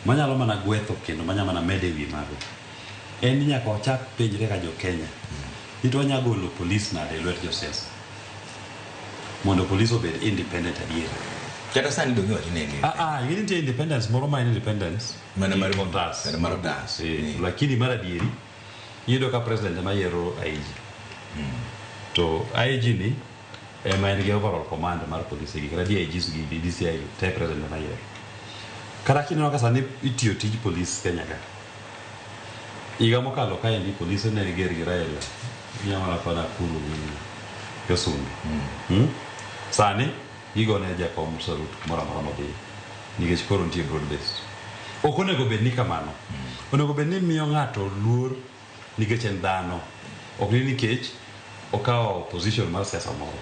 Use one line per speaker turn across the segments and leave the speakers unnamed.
manyalo mana gwetho kendo manya mana mede wi mago en ni nyaka wachak penjre ka jo Kenya ni to wanya golo polis nade e lwet josiasa mondo polis obed independent adier kata sani donge
wacho ni ndio ah ah yini nitie independence
moro ma en independence mana mar otas
mana mar otas
Eh, lakini mar adieri iyudo ka president ema yiero IG to IG ni ema en gi overall command mar polise gi kata DIGs gi gi DCI te president ema yiero kata kineno ka sani itiyo tij polis Kenya ka higa mokalo ka endi polise ne ger gi Raila nyamara pana kuru gi Josungu Hmm? sani gigo ne jakom sarut moro amora modhi nikech koro nitie broad based ok onego bed ni kamano onego bed ni miyo ng'ato luor nikech en dhano ok ni nikech okawo position mar siasa moro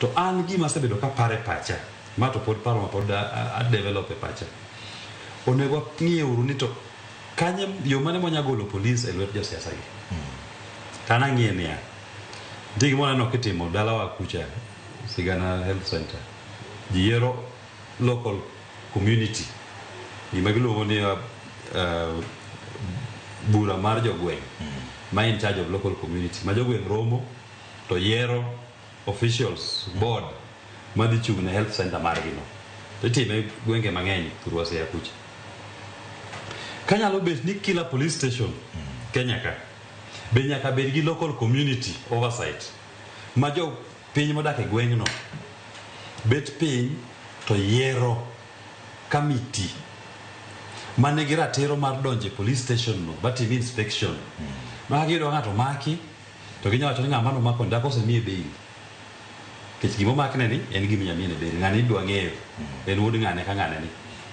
to an gima asebedo ka paro e pacha ma to pod paro ma pod a- a- a develop e pacha onego wang'ie uru ni to kanye yo mane mwanya golo polis e lwet josiasa gi to an ang'ie niya nitie gima waneno kitimo dalawa kucha sigana health center ji yiero local community gima giluongo ni uh, uh, bura mar jogweng' ma in charge of local community ma jogweng' romo to yiero officials board madhi chung' ne health center margino to itime gwenge mang'eny thurwa seya kucha kanyalo bet ni kila police station kenya ka be nyaka bed gi local community oversight ma jo Piny modak e gweng'no bet piny to yiero kamiti ma nigi ratiro mar donjo e police station no ba tim inspection. Ma ka giyudo ka ng'ato omaki to ginyalo wacho ni ng'ama ne omakoni dak osemiye bail. Nikech gima omakne ni en gima inyalo miyene bail. Ng'ani idwa ng'eyo en wuod ng'ane ka ng'ane ni.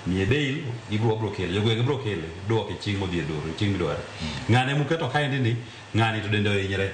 Miye bail ibiro wabiro kele. Jogweng' biro kele duoke chieng' modhi e dwaro chieng' midware. Ng'ane muketo kaendi ni ng'ani to dende ohinyre.